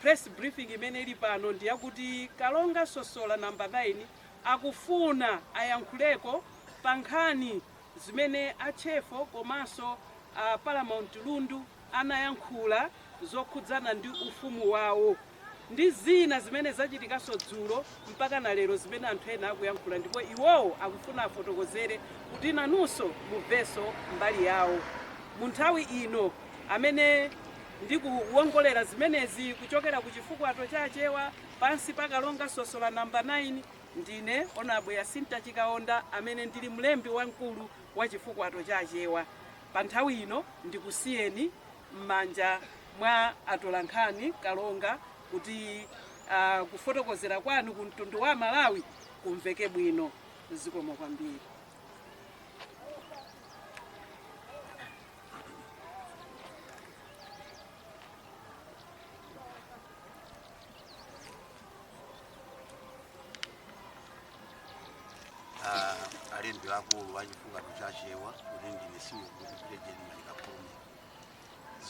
press briefing imene ili pano ndi yakuti kalonga sosola namba 9 akufuna ayankhuleko pa nkhani zimene atchefo komanso a paramount lundu anayankhula zokhudzana ndi ufumu wawo ndi zina zimene zachitikanso dzulo mpaka na lero zimene anthu ena akuyankhula ndipo iwowo akufuna afotokozere kuti nanunso mumvenso mbali yawo mu nthawi ino amene ndikuwongolera zimenezi kuchokera ku chifukwato cha Achewa pansi pa Kalonga Sosola Number 9, ndine Hon. Yasinta Chikaonda amene ndili mlembi wamkulu wa chifukwato cha Achewa. Pa nthawi ino ndikusiyeni m'manja mwa atolankhani, Kalonga, kuti ah, kufotokozera kwanu ku mtundu wa Amalawi kumveke bwino. Zikomo kwambiri. Ah, alembi akulu a Chifukwato cha Achewa kuti ndine Simon Kupitire Jeremani Kakome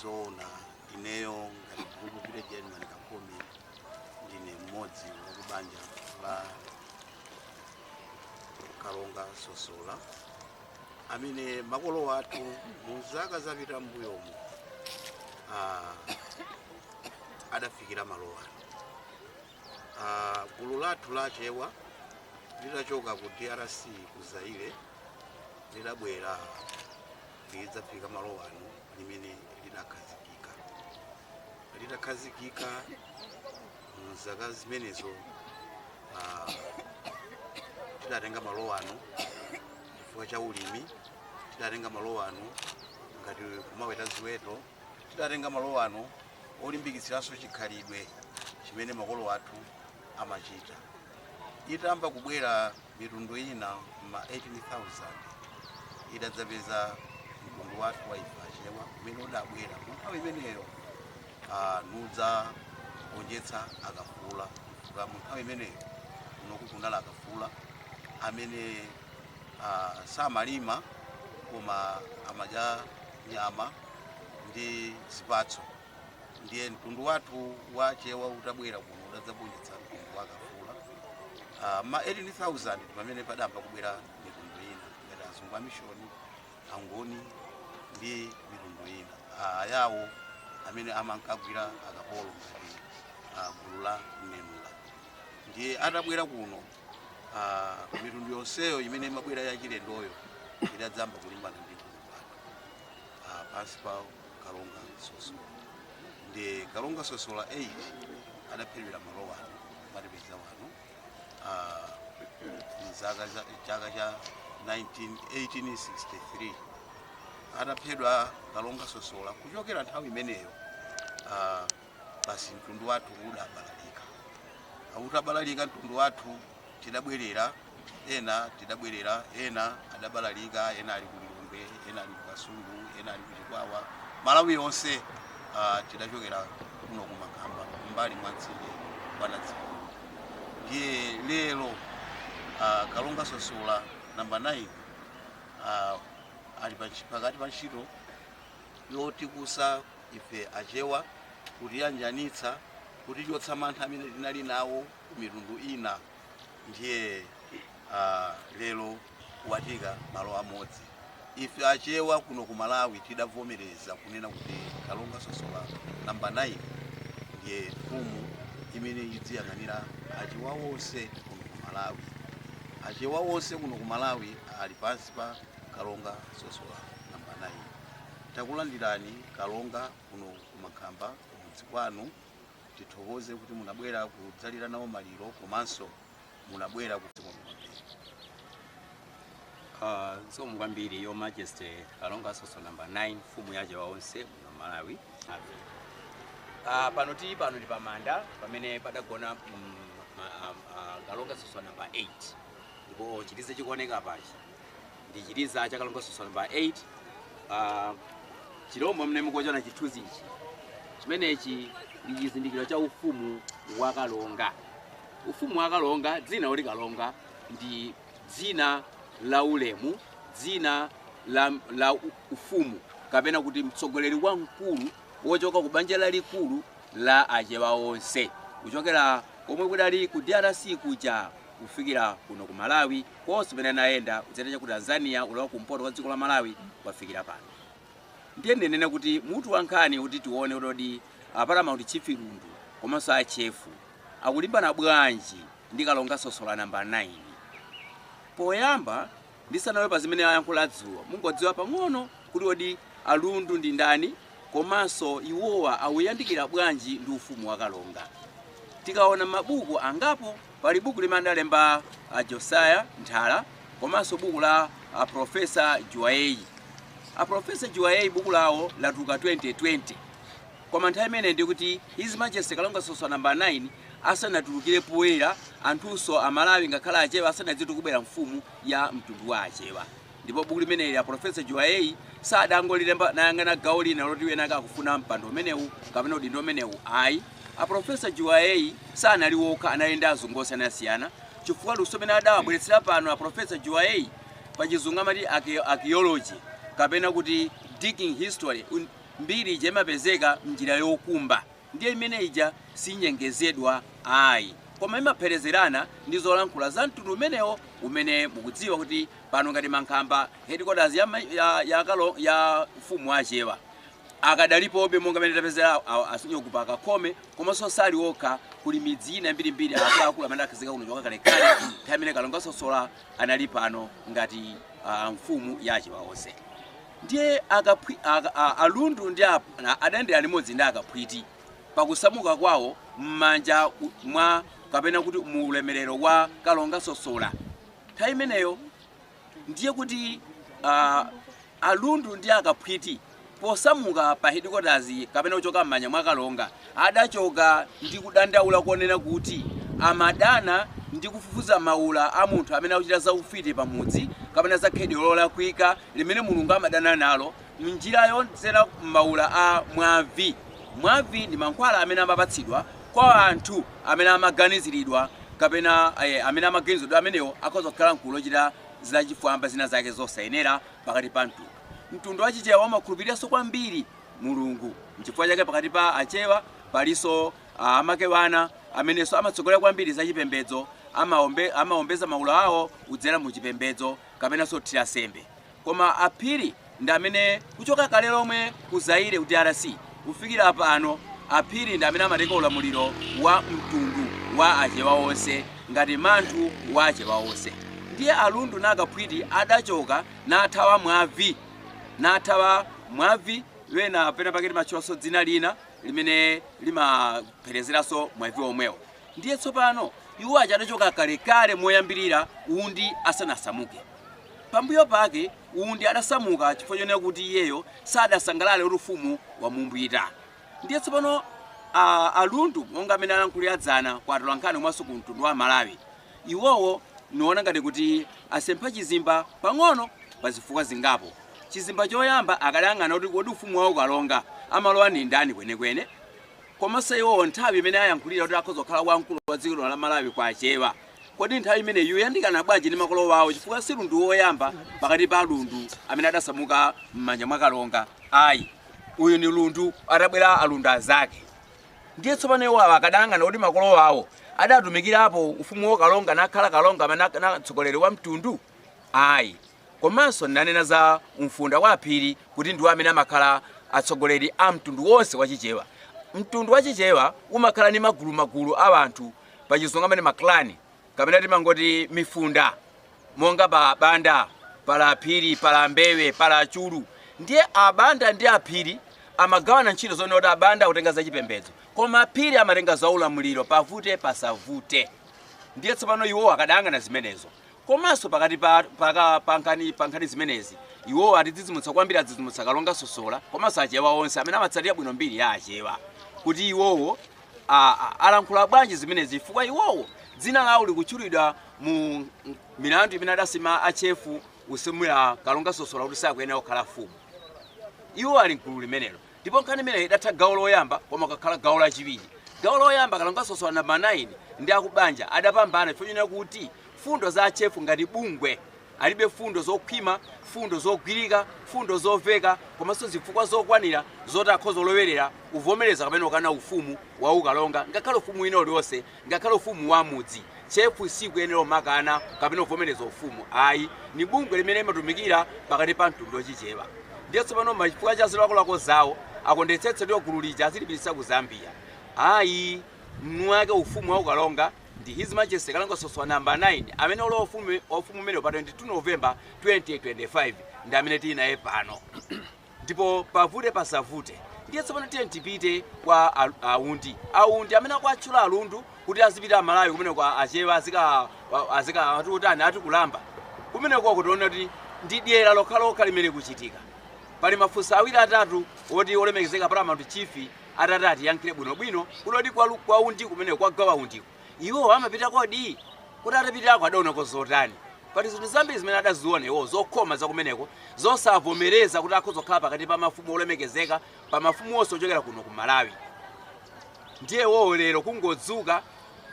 zoona ineyo ngati Kupitire Jeremani Kakome ndine mmodzi wakubanja la kalonga sosola amene makolo athu mu zaka zapita m'mbuyomu ah, adafikira malo ano Ah, gulu lathu la achewa litachoka ku drc ku zaire lidabwera lidzafika malo ano limene lidakhazikika litakhazikika mzaka zimenezo ah, tidatenga malo ano chifukwa cha ulimi tidatenga malo ano ngati kumaweta ziweto tidatenga malo ano polimbikitsanso chikhalidwe chimene makolo athu amachita itayamba kubwera Mitundu ina m'ma 18,000 idadzapeza mtundu wathu wa ife Achewa umene udabwera mu nthawi imeneyo ah, nudzagonjetsa Akafula chifukwa mu nthawi imeneyo kunoku kunali Akafula amene ah, samalima koma amadya nyama ndi zipatso ndiye mtundu wathu wa Achewa utabwera kuno udadzagonjetsa mtundu wa Akafula uh, ma 18000 ndi pamene padayamba kubwera mitundu ina ngati azungu amishoni angoni ndi mitundu ina uh, ayawo amene amankagwira akapolo ngati uh, gulu la mnenula ndiye atabwera kuno uh, mitundu yonseyo imene imabwera yachilendoyo idadzamba kulimbana ndi mtundu wathu uh, pansi pawo Kalonga Sosola ndi Kalonga Sosola 8 adaphedwira malo wano mwatipeza wano ah, mzaka za chaka cha 19 1863 ataphedwa Kalonga Sosola kuchokera nthawi imeneyo ah, basi mtundu wathu udabalalika ah utabalalika mtundu wathu tidabwerera ena tidabwerera ena adabalalika ena ali ku lilongwe ena ali ku kasungu ena ali ku chikwawa malawi yonse uh, tidachokera kuno ku mankhamba m'mbali mwa mtsinje wa nadzipulu ndiye lero uh, kalonga sosola namba 9 uh, ali pakati pa ntchito yotikusa ife achewa kutiyanjanitsa kutichotsa mantha amene tinali nawo ku mitundu ina ndiye uh, lero watiika malo amodzi ife achewa kuno ku malawi tidavomereza kunena kuti kalonga sosola namba 9 ndiye mfumu imene idziyang'anira achewa wonse kuno ku malawi achewa wonse kuno ku malawi ali pansi pa kalonga sosola namba 9 takulandirani kalonga kuno ku mankhamba kumudzi kwanu tithokoze kuti munabwera kudzalira nawo maliro komanso munabwera ku Ah, zikomo kwambiri your majesty kalonga sosola number 9 mfumu ya achewa onse muno malawi Ah, pano tili pano ndi pamanda pamene padagona mm, ma- ah, ah, kalonga sosola number 8 ndipo chiliza chikuoneka apachi ndi chiliza cha kalonga sosola namba 8 uh, chilombo mmene mukuchiona chithunzi ichi chimenechi ndi chizindikiro cha ufumu wa kalonga ufumu wa kalonga dzina loti kalonga ndi dzina la ulemu dzina la, la u- ufumu kapena kuti mtsogoleri wamkulu wochoka ku banja lalikulu la achewa onse kuchokera komwe kudali ku drc kuja kufikira kuno ku Malawi konse kumene anayenda kudzera chaku Tanzania kulowa kumpoto kwa dziko la Malawi kukafikira pano. Ndiye ndinene kuti mutu wa nkhani kuti tione kuti kodi a Paramount Chief Lundu komanso a Chefo akulimbana bwanji ndi Kalonga Sosola namba 9. Poyamba Ndisanalowe pa zimene ayankhula dzulo, mungodziwa pang'ono kuti kodi a Lundu ndi ndani komanso iwowa akuyandikira bwanji ndi ufumu wa Kalonga. Tikaona m'mabuku angapo, pali buku limene adalemba a Josiah Nthara komanso buku la a Prof. Juwayeyi. A Prof. Juwayeyi buku lawo latuluka 2020. Koma nthawi imeneyi ndiye kuti His Majesty Kalonga Sosola nambala 9 asanatulukire poyera anthunso a Malawi ngakhale Achewa asanadziwe za kubwera mfumu ya mtundu wa Achewa. Ndipo buku limeneli a Professor Juwayeyi sadangolilemba nayang'ana gawo lina loti wina ake akufuna mpando umenewu kapena udindo umenewu ayi. A Professor Juwayeyi sanali wokha anali ndi azungu osiyanasiyana chifukwa luso limene adawabweretsera pano a Professor Juwayeyi pa chizungu amati archae- archaeology kapena kuti digging history un- Mbiri ija imapezeka m'njira yokumba ndiye imene ija sinyengezedwa ayi koma imapherezerana ndi zolankhula za mtundu umenewo umene mukudziwa kuti pano ngati Mankhamba headquarters ya, ya, ya, ya ufumu wa Achewa akadalipobe monga mene tapezera a Sunyoku pa Kakhome komanso sali okha kuli midzi ina mbirimbiri akuluakulu amene akhazika kuno choka kalekale nthawi imene Kalonga Sosola anali pano ngati uh, mfumu ya Achewa onse. Ndiye akaphwi, a, a, alundu ndi a, a, adayendera limodzi ndi akaphwiti pakusamuka kwawo m'manja u, mwa kapena kuti mu ulemerero wa Kalonga Sosola. Nthawi imeneyo ndiye kuti a, alundu ndi akaphwiti posamuka pa headquarters kapena kuchoka m'manja mwa Kalonga adachoka ndi kudandaula konena kuti amadana ndi kufufuza maula a munthu amene akuchita za ufiti pamudzi kapena za khalidwe lolakwika limene Mulungu amadana nalo m'njira yodzera m'maula a mwavi. Mwavi ndi mankhwala amene amapatsidwa kwa anthu amene amaganiziridwa kapena amene amaganiziridwa kuti amenewo akhoza kukhala m'gulu lochita zachifwamba zinazake zosayenera pakati pa mtundu. Mtundu wa Chichewa umakhulupiriranso kwambiri Mulungu. N'chifukwa chake pakati pa Achewa palinso Amakewana amenenso amatsogolera kwambiri zachipembedzo. Amaombeza maula awo kudzera mu chipembedzo. kapenanso kuthira sembe koma a Phiri ndi amene kuchoka kale lomwe ku Zaire ku drc kufikira pano a Phiri ndi amene amatenga ulamuliro wa mtundu wa achewa onse ngati manthu wa achewa onse ndiye a Lundu na Kaphwiti adachoka nathawa mwavi nathawa mwavi ena pena pake timatchulaso dzina lina limene limapherezeranso mwavi omwewo. Ndiye tsopano, iwo aja adachoka kalekale moyambirira Undi asanasamuke. Pambuyo pake Undi adasamuka chifukwa chonena kuti iyeyo sadasangalale kuti ufumu wamumbwita. Ndiye tsopano a, a Lundu monga amene alankhulira dzana kwa atolankhani komanso ku mtundu wa Malawi, iwowo niona ngati kuti asempha chizimba pang'ono pa zifukwa zingapo. Chizimba choyamba akadayang'ana kuti kodi ufumu wa ukalonga amalowa ndi ndani kwenekwene, Komanso iwowo nthawi imene ayankhulira kuti akhoza kukhala wamkulu wa dziko lino la Malawi kwa achewa, kodi nthawi imeneyi iwo ayandikana bwanji ndi makolo wawo chifukwa si lundu woyamba pakati pa alundu amene adasamuka mmanja mwa kalonga ayi uyu ni lundu atabwera alundu azake ndiye tsopano iwo awa akadayang'ana kodi makolo wawo adatumikirapo ufumu wa kalonga nakhala kalonga amene na- na- mtsogoleri wa mtundu ayi Komanso ndinanena za Mfunda wa Aphiri kuti ndiwo amene amakhala atsogoleri a mtundu wonse wa Chichewa. Mtundu wa Chichewa umakhala ndi magulumagulu a anthu, pa Chizungu amati ma clan kapena timangoti mifunda, monga pali Abanda, pali Aphiri, pali Ambewe, pali Achulu. Ndiye Abanda ndi Aphiri amagawana ntchito zonena kuti Abanda akutenga za chipembedzo koma Aphiri amatenga za ulamuliro, pavute pasavute. Ndiye tsopano iwowo akadayang'ana zimenezo. Komanso pakati pa paka pankhani pankhani zimenezi iwo atidzidzimutsa kwambiri adzidzimutsa kalonga sosola komanso achewa onse amene amatsatira bwino mbiri ya achewa kuti iwowo a- a- alankhula bwanji zimenezi chifukwa iwowo dzina lawo likutchulidwa mu m- milandu imene adasuma achefu usumira kalonga sosola kuti sakuyenera kukhala mfumu iwo ali mgulu limenelo Ndipo nkhani imeneyo idatha gawo loyamba koma kukhala gawo lachiwiri. Gawo loyamba kalonga sosola number 9 ndi akubanja adapambana chifukwa chonena kuti fundo za Achefu ngati bungwe alibe fundo zokhwima, fundo zogwirika, fundo zoveka komanso zifukwa zokwanira zoti akhoza kulowerera kuvomereza kapena kukana ufumu wa ukalonga ngakhale ufumu wina uliwonse Ngakhale ufumu wa mudzi, chefu siikuyenera umakana kapena kuvomereza ufumu ayi. Ni bungwe limene imatumikira pakati pa mtundu wa chichewa. Ndiye tsopano koma chifukwa cha zilakolako zawo akuonetsetsa kuti gulu lija azilipititsa ku Zambia. Ayi mwini wake ufumu wa ukalonga ndi His Majesty Kalonga Sosola Number 9 amene walowa ufumu wa ufumu umenewu pa 22 November 2025 ndi amene tili naye pano. Ndipo pavute pasavute, ndiye tsopano tiyeni tipite kwa a, Undi Undi amene akuwatchula alundu kuti azipite amalawi kumeneko a- achewa azika a- azika ati utani ati kulambira kumeneko tikuona kuti ndi dyera lokhalokha limene kuchitika pali mafunso awiri atatu oti olemekezeka paramount chief atati atiyankhire bwinobwino kuti kodi kwa, lu- kwa undi kumeneko kwa gawa undiko Iwo amapita kodi? Kodi atapitako adaonako zotani? Pali zinthu zambiri zimene adaziona iwowo zokhoma za kumeneko zosavomereza kuti akhoza kukhala pakati pa mafumu olemekezeka pa mafumu onse ochokera kuno ku Malawi. Ndiye iwowo lero kungodzuka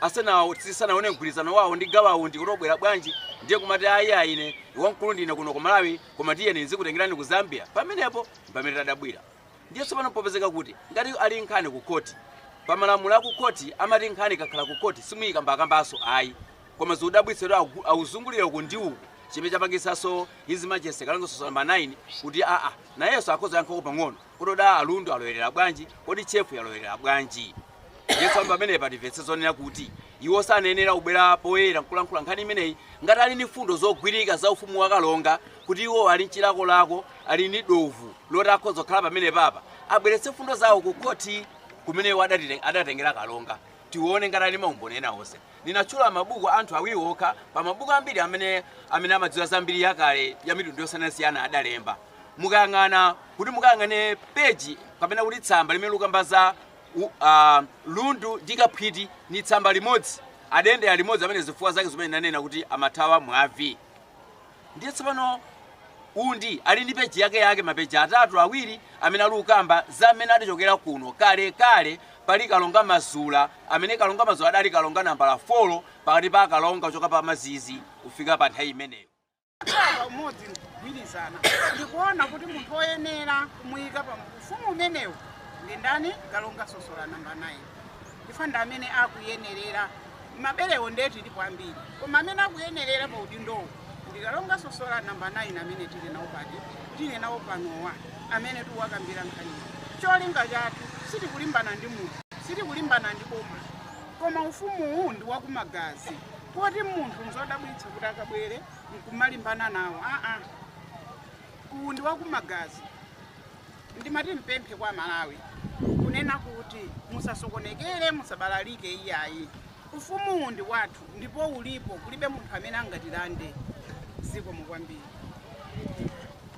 asanawo tisanaone mgwirizano wawo ndi gawa undi kuti obwera bwanji ndiye kumati ayi ayi ine wamkulu ndine kuno ku Malawi koma tiyeni ndizikutengerani ku Zambia pamenepo mpamene tadabwira. Ndiye tsopano popezeka kuti ngati ali nkhani ku court pa malamulo a ku court amati nkhani ikakhala ku court simuyikambakambanso ayi koma zotidabwitsa kuti akuzungulira uku ndi uku chimene chapangitsanso his majesty kalonga sosola namba 9 kuti aa nayenso akhoza yankhapo pang'ono kuti kodi alundu alowerera bwanji kodi chefu yalowerera bwanji ndiye tsopano pamenepa timvetse zonena kuti iwo sanayenera kubwera poyera nkukalankhula nkhani imeneyi ngati ali ndi mfundo zogwirika za ufumu wa kalonga kuti iwo ali mchilakolako ali ndi dovu loti akhoza kukhala pamene paja abweretse mfundo zawo ku khoti kumene iwo adatite- adatengera kalonga tione ngati ali maumboni ena onse ndinatchula mabuku anthu awiri okha pa mabuku ambiri amene amene amadziwa za mbiri yakale ya mitundu yosiyanasiyana adalemba mukayang'ana kuti mukayang'ane peji kapena kuti tsamba limene likukamba za u, a, lundu ndi kaphwiti ni tsamba limodzi, adendera limodzi amene zifukwa zake zimene nanena kuti amathawa mwavi. Ndiye tsopano undi ali ndi peji yake yake mapeji atatu awiri amene ali ukamba za mmene adachokera kuno kale kale pali kalonga mazula amene kalonga mazula adali kalonga nambala 4 pakati pa akalonga kuchoka pa mazizi kufika pa nthawi imeneyo kukhala pamodzi kugwirizana ndikuona kuti munthu woyenera kumuyika pa ufumu umenewu ndi ndani kalonga sosola namba 9 chifukwa ndi amene akuyenerera mabelewo ndiye tilipo ambiri koma amene akuyenerera pa udindowo ndi kalonga sosola namba 9 amene tili nawo pati tili nawo panowa amene tikuwakambira nkhaniyo cholinga chathu sitikulimbana ndi munthu sitikulimbana ndi boma koma ufumuwu ndi wakumagazi poti munthu nzodabwitsa kuti akabwere nkumalimbana nawo aa uwu ndi wakumagazi ndimati ndipemphe kwa amalawi kunena kuti musasokonekere musabalalike iyayi ufumuwu ndi wathu ndipo ulipo kulibe munthu amene angatilande zikomo kwambiri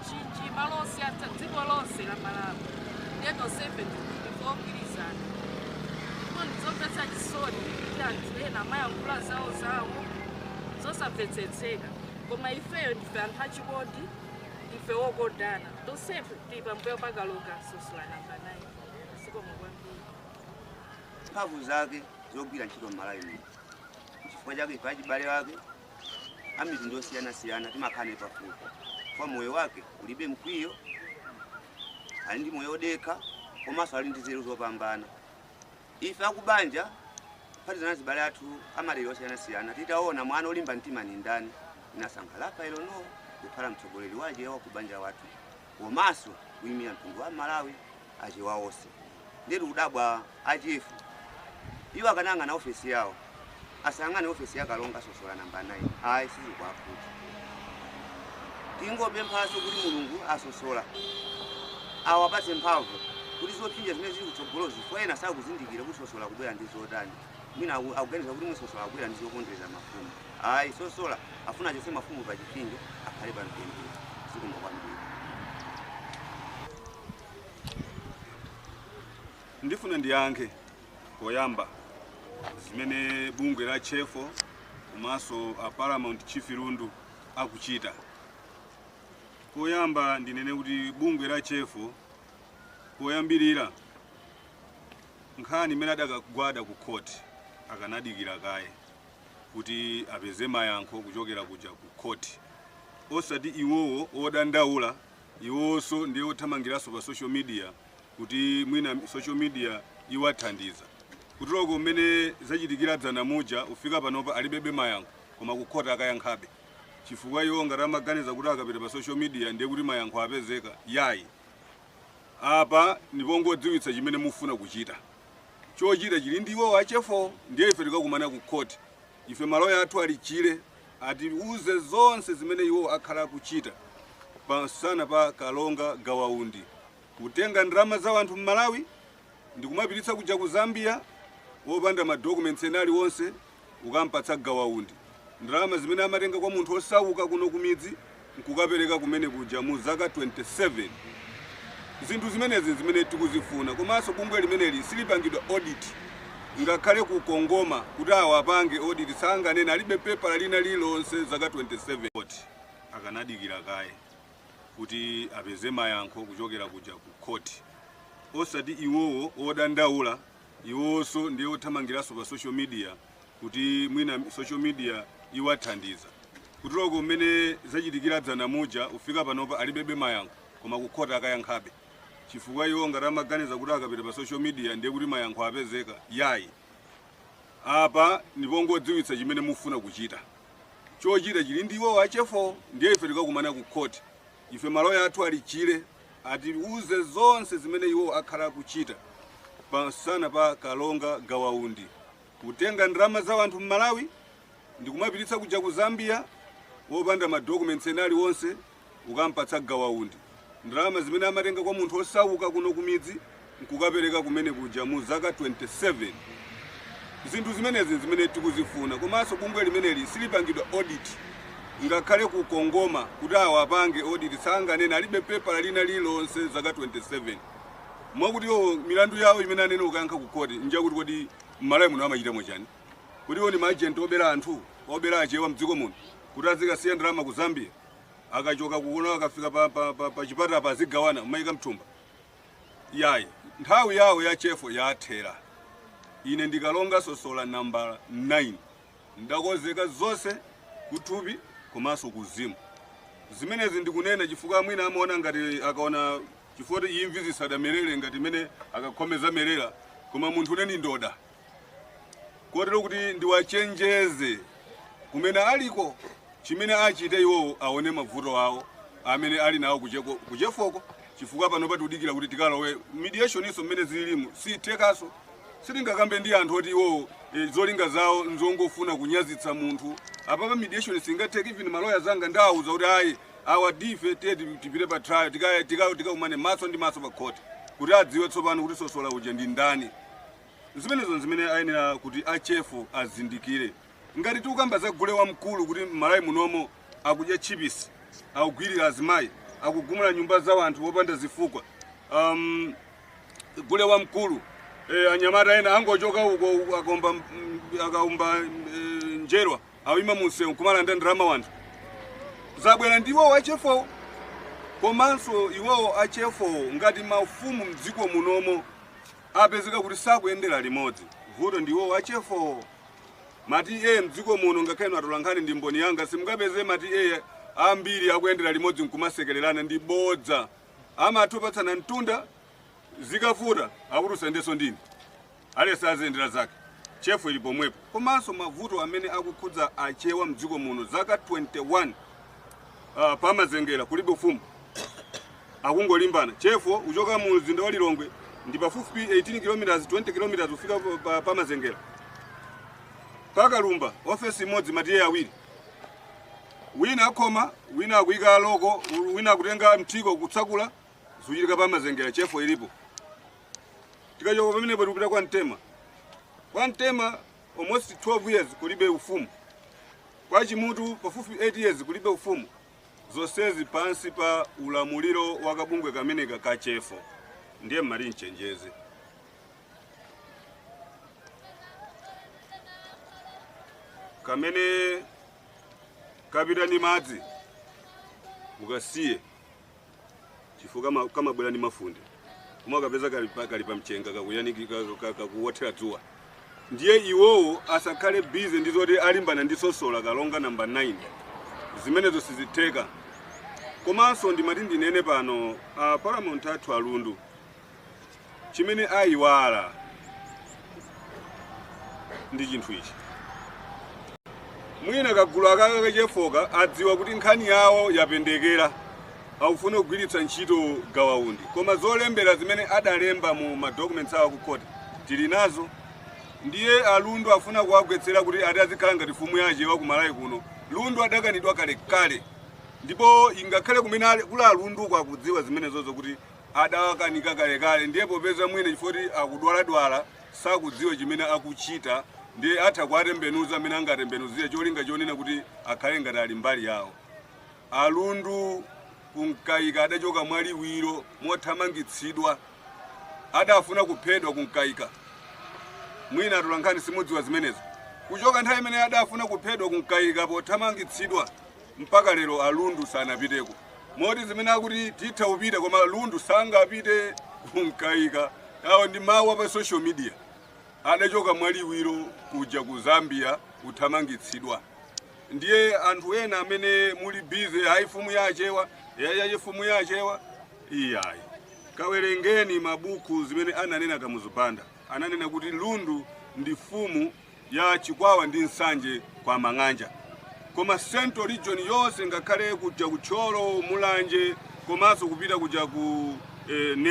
Mchinji, malo osiyanasiyana dziko lonse la Malawi ndiye tonsefe ndikuti ogwirizana ndipo ndizomvetsa chisoni kuti anthu ena amayankhula zawo zawo zosamvetsetseka koma ifeyo ndife anthu achikondi ndife wokondana tonsefe tili pambuyo pa kalonga sosola namba 9 zikomo kwambiri mphamvu zake zogwira ntchito m'malawi muno chifukwa chake ife achibale ake a mitundu yosiyanasiyana timakhala naye pafupi chifukwa moyo wake ulibe mkwiyo, ali ndi moyo odekha komanso ali ndi nzeru zopambana. Ife akubanja kuphatikizana abale athu amadera osiyanasiyana titaona mwana olimba mtima ni ndani tinasankha Rafael Noah kukhala mtsogoleri waje wa kubanja wathu. komaso kuimira mtundu wa Malawi achewa ose ndiye tikudabwa achief iwo akanayang'ana ofesi yawo asayang'ane ofesi ya kalonga a sosola namba 9 ayi sizingatheke tingopemphaso kuti mulungu asosola awapatse mphamvu kuti zopsinja zimene zili kutsogolozi chifukwa ena sakuzindikira kuti sosola akubwera ndi zotani mwina aku- akuganiza kuti mwina sosola akubwera ndi zopondereza mafumu ayi sosola afuna achotse mafumu pa chipinjo akhale pa mtendere zikomo kwambiri ndifuna ndiyankhe poyamba zimene bungwe la chefo komanso a paramount chief lundu akuchita poyamba ndinene kuti bungwe la chefo poyambirira nkhani imene adakagwada ku court akanadikira kaye kuti apeze mayankho kuchokera kuja ku court osati iwowo odandaula iwowonso ndiye othamangiranso pa social media kuti mwina social media iwathandiza kuti look mmene zachitikira dzana muja kufika panopa alibebe mayankho koma ku court akayankhabe chifukwa iwo ngati amaganiza kuti akapita pa social media ndiye kuti mayankho apezeka yayi Apa ndi pongodziwitsa chimene tifuna kuchita. Chochita chili ndi iwowo a Chefo ndiye ife tikakumana ku court. Ife ma lawyer athu ali chile atiuze zonse zimene iwowo akhala akuchita pa msana pa Kalonga Gawa Undi. Kutenga ndalama za wanthu m'Malawi ndikumapititsa kuja ku Zambia opanda ma documents ena aliwonse. kukampatsa gawaundi, ndalama zimene amatenga kwa munthu osauka kuno kumidzi nkukapereka kumene kuja mu zaka 27. Zinthu zimenezi nzimene tikuzifuna komanso bungwe limeneli silipangidwa audit ngakhale ku CONGOMA kuti awapange audit sanganene alibe pepala lina lililonse zaka 27. Court akanadikira kaye kuti apeze mayankho kuchokera kuja ku court osati iwowo odandaula iwowoso ndiye othamangilaso pa social media kuti mwina social media iwathandiza kuti look mmene zachitikira dzana muja kufika panopa alibebe mayankho koma kukhoti akayankhabe chifukwa iwo ngati amaganiza kuti akapita pa social media ndiye kuti mayankho apezeka yayi apa ndipongodziwitsa chimene tifuna kuchita chochita chili ndi iwowo achefo ndiye ife tikakumana ku khoti ife maloya athu ali chile atiuze zonse zimene iwo akhala akuchita pamsana pa Kalonga Gawa Undi, kutenga ndalama za wanthu m'Malawi ndikumapititsa kuja ku Zambia wopanda ma documents ena aliwonse kukampatsa Gawa Undi. Ndalama zimene amatenga kwa munthu osauka kuno kumidzi nkukapereka kumene kuja mu zaka 27. Zinthu zimenezi nzimene tikuzifuna komanso bungwe limeneli silipangidwa audit ngakhale ku Kongoma kuti awapange audit sanganene alibe pepala lina lililonse zaka 27. Mwakuti iwowo milandu yawo imene anene kukayankha ku court njakuti kodi m'Malawi muno amachitamo chani? Kodi iwo ndi ma agent obera anthu, obera achewa mdziko muno kuti azikasiya ndalama ku Zambia akachoka kuno akafika pa, pa, pa, pa chipata apa azigawana kumaika mthumba? Iyayi, nthawi yawo ya Chefo yathera. Ine ndi Kalonga Sosola nambala 9 ndakozeka zonse kuthupi komanso kuuzimu. Zimenezi ndikunena chifukwa mwina amaona ngati akaona chifukwa choti imvi zisadamerere ngati mene agakhomo zamerera koma munthune ndi ndoda. kotero kuti ndiwachenjeze kumene aliko chimene achite iwowo aone mavuto awo amene ali nawo kucheko- kuchefoko chifukwa pano tikudikira kuti tikalowe mediationinso mmene zililimu sithekanso sitingakambe ndi anthu oti iwowo e, zolinga zawo nzongofuna kunyazitsa munthu apapa mediation singatheke even maloya anga ndawauza kuti ayi awa ndife tiye ti- tipite pa trial tikaye tikao- tikakumane maso ndi maso pa khoti kuti adziwe tsopano kuti Sosola uja ndi ndani zimenezo n'zimene ayenera kuti a Chefo azindikire ngati tikukamba za gule wamkulu kuti m'Malawi munomo akudya chipisi akugwirira azimayi akugumula nyumba za wanthu wopanda zifukwa um, gule wamkulu e, anyamata ena angochoka uko uko akaomba m- akaumba e, njerwa ayima mumsewu kumalanda ndalama wanthu zabwera ndi iwowo achefowo komanso iwowo achefowo ngati mafumu mdziko munomo apezeka kuti sakuyendera limodzi. Vuto ndi iwowo a Chefo. Ma TA mdziko muno ngakhale inu atolankhani ndi mboni yanga simungapeze ma TA ambiri akuyendera limodzi nkumasekererana ndi bodza. Amatha kupatsana mtunda zikavuta akuti usayendenso ndine. Aliyense aziyendera zake. Chefo ili pomwepo. Komanso mavuto amene akukhudza achewa mdziko muno zaka 21 uh, pa Mazengera kulibe ufumu. akungolimbana Chefo kuchoka mu mzinda wa Lilongwe ndi pafupifupi 18 km 20 km kufika pa, pa Mazengera pa Kalumba ofesi imodzi ma TA awiri wina akhoma wina akuyika loko wina akutenga mthiko kutsekula zikuchitika pa Mazengera Chefo ilipo tikachoka pamenepa tikupita kwa Mtema kwa Mtema almost 12 years kulibe ufumu kwa Chimutu pafupifupi 8 years kulibe ufumu zonsezi pansi pa ulamuliro wa kabungwe kameneka ka Chefo ndiye mmati mchenjeze kamene kapita ndi madzi mukasiye chifukwa kama- kamabwera ndi mafunde koma ukapeza kali pa- kali pa mchenga kakuyaniki- ka- ka- kakuwothera dzuwa ndiye iwowo asakhale bize ndi zoti alimbane ndi sosola kalonga namba 9 zimenezo sizitheka komanso ndimati ndinene pano a paramount athu alundu Chimene ayiwala ndi chinthu ichi, mwina kagulu aka kachefoka adziwa kuti nkhani yawo yapendekera, akufuna kugwiritsa ntchito Gawa Undi, koma zolembera zimene adalemba mu ma documents awo ku court tili nazo. Ndiye a Lundu afuna kuwagwetsera kuti ati azikhala ngati fumu ya Achewa ku Malawi kuno. Lundu adakanidwa kalekale, ndipo ingakhale kumene ali- kuli a Lundu uko akudziwa zimenezozo kuti adawakaniza kalekale ndiye popeza mwina chifukwa choti akudwaladwala sakudziwa chimene akuchita ndiye atha kuwatembenuza mmene angatembenuzire cholinga chonena kuti akhale ngati ali mbali yawo alundu ku Mkaika adachoka mwaliwiro mothamangitsidwa adafuna kuphedwa ku Mkaika mwina atolankhani simudziwa zimenezo kuchoka nthawi imeneyi adafuna kuphedwa ku Mkaika pothamangitsidwa mpaka lero a Lundu sanapiteko moti zimene akuti titha kupita koma Lundu sangapite ku Mkaika awo ndi mawu apa social media adachoka mwaliwiro kuja ku Zambia kuthamangitsidwa ndiye anthu ena amene muli busy ayi fumu ya achewa yayaye fumu ya achewa iyayi kawerengeni mabuku zimene ananena Kamuzu Banda ananena kuti Lundu ndi fumu ya Chikwawa ndi Nsanje kwa Amang'anja koma central region yonse ngakhale kuja ku Thyolo, Mulanje komanso kupita kuja ku eh, ne